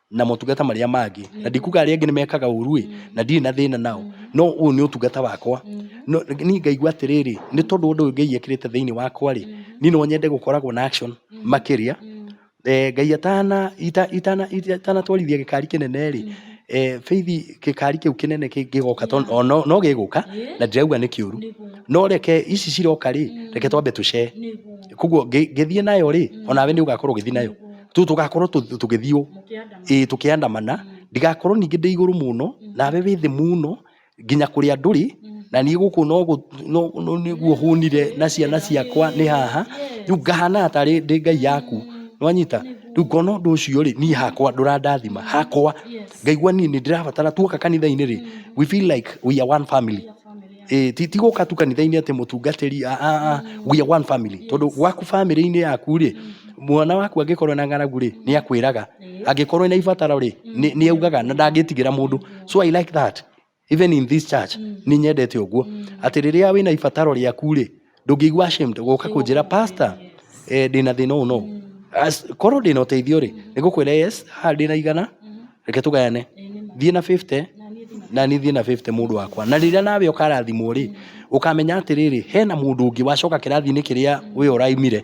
na motungata marĩa mangĩ na ndikuga arĩa angĩ nĩ mekaga ũru ĩ na ndirĩ na thĩna nao no ũyũ nĩ ũtungata wakwa no niĩ ngaigua atĩrĩrĩ nĩ tondũ ũndũ ũyũ Ngai ekĩrĩte thĩinĩ wakwa rĩ niĩ no nyende gũkoragwo na action makĩria eh, Ngai atana ita- itana ita- itanatwarithia gĩkari kĩnene rĩ eh, bĩthi gĩkari kĩu kĩnene kĩ- gĩgoka tondũ o no no gĩgũka na ndirauga nĩ kĩũru no reke ici ciroka rĩ reke twambe tũcee koguo ngĩ- ngĩthiĩ nayo rĩ onawe nĩ ũgakorwo ũgĩthiĩ nayo tu tugakorwo tu- tugithiũ Mũkĩandamana. ĩĩ tũkĩandamana ndigakorwo ningĩ ndĩ igũrũ mũno nawe wĩ thĩ mũno nginya kũrĩa ndũrĩ na niĩ gũkũ no gũ- no- no- nĩguo hũnire na ciana ciakwa nĩ haha rĩu ngahana tarĩ ndĩ ngai yaku nwanyita rĩu ngona ũndũ ũcio rĩ niĩ hakwa ndũrandathima hakwa Yes. ngaigua niĩ nĩ ndĩrabatara tuoka kanitha-inĩ rĩ we feel like we are one family Family. Eh, ti ti gũka tu kanitha-inĩ atĩ mũtungatĩri a a a we are one family tondũ gwaku family-inĩ yaku rĩ mwana waku angĩkorwo na ng'aragu rĩ nĩ akwĩraga angĩkorwo na ibataro rĩ nĩ nĩ augaga na ndangĩtigĩra mũndũ so i like that even in this church nĩ nyendete ũguo atĩ rĩrĩa wĩna ibataro rĩaku rĩ ndũngĩigua ashamed gũka kũnjĩra pastor eh, ndĩna thĩna ũũ no As- korwo ndĩna ũteithio rĩ nĩgũkwĩra yes haha ndĩna igana reke tũgayane thiĩ na 50 na niĩ thiĩ na 50 mũndũ wakwa na rĩrĩa nawe ũkarathimwo rĩ ũkamenya atĩrĩrĩ hena mũndũ ũngĩ wacoka kĩrathi-inĩ kĩrĩa we ũraimire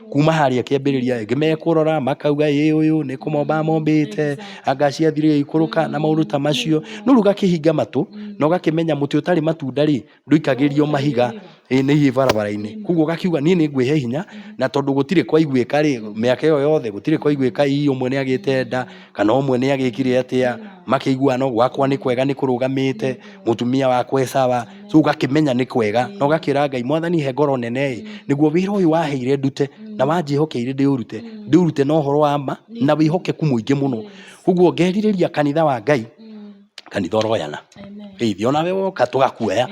kuma harĩa kĩambĩrĩria ĩ, mekũrora makauga ĩ ũyũ nĩ kũmomba amombĩte, anga ciathire igĩikũrũka na maũndũ ta macio. No rĩu ũgakĩhinga matũ na ũgakĩmenya mũtĩ ũtarĩ matunda rĩ, ndũikagĩrio mahiga ĩ nĩ hihi barabara-inĩ. Koguo ũgakiuga niĩ nĩ ngwĩhe hinya na tondũ gũtirĩ kwaiguĩka rĩ, mĩaka ĩyo yothe gũtirĩ kwaiguĩka hihi ũmwe nĩ agĩte nda. kana ũmwe nĩ agĩkire atĩa makĩiguana no gwakwa nĩ kwega nĩ kũrũgamĩte mũtumia wakwa esawa so ũgakĩmenya nĩ kwega na ũgakĩra ngai mwathani he ngoro nene ĩ nĩguo wĩra ũyũ waheire ndute na wanjĩhokeire ndĩũrute ndĩũrute na ũhoro wa ma na wĩhokeku mũingĩ mũno koguo ngerirĩria kanitha wa ngai kanitha oroyana rĩithi ona we woka tũgakuoya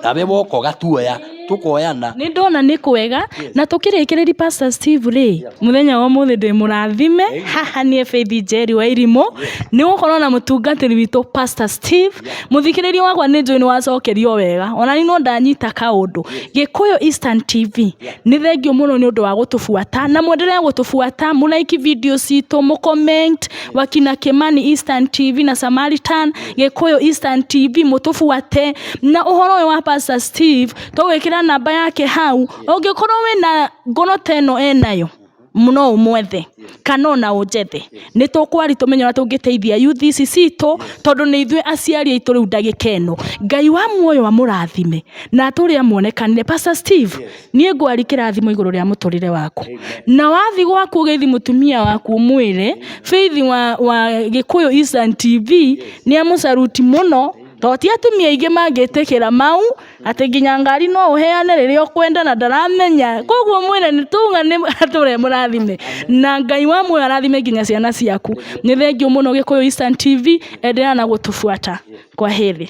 nawe woka ũgatuoya tũkoyana nĩ ndona nĩ kwega na tũkĩrĩkĩrĩria pastor steve rĩ mũthenya wa mũthĩ ndĩ mũrathime haha niĩ faith njeri wa irimũ nĩ gũkorwo na mũtungatĩri witũ pastor steve mũthikĩrĩria wakwa nĩ njũĩ nĩ wacokerio wega ona nĩ no ndanyita kaũndũ gĩkũyũ eastern tv nĩ thengiũ mũno nĩ ũndũ wa gũtũbuata na mwendelee gũtũbuata mũraiki video citũ mũ comment wakina kimani instant tv na samaritan gikuyu instant tv mutubuate na uhoro uyu wa pastor steve tugwikira namba yake hau ungikorwo wina ngono ta ino enayo no ũmwethe kana ona ũnjethe nĩ tũkwari tũmenye ũrĩa tũngĩteithia UTC citũ tondũ nĩ ithuĩ aciari aitũ rĩu ndagĩka ĩno ngai wa muoyo amũrathime na atũrĩa muonekanire pastor steve niĩ ngwari kĩrathimo igũrũ rĩa mũtũrĩre waku na wathiĩ gwaku ũgĩthi mũtumia waku ũmwĩre Faith wa, wa Gĩkũyũ Eastern TV nĩ amũcaruti mũno tondũ ti atumia aingĩ mangĩtĩkĩra mau atĩ nginya ngari no ũheane rĩrĩa ũkwenda na ndaramenya koguo mwĩre nĩ tuga nĩ atũre e mũrathime na Ngai wa muoyo arathime nginya ciana ciaku nĩ thengiũ mũno Gĩkũyũ Eastern TV endelea na gũtũbuata kwaheri.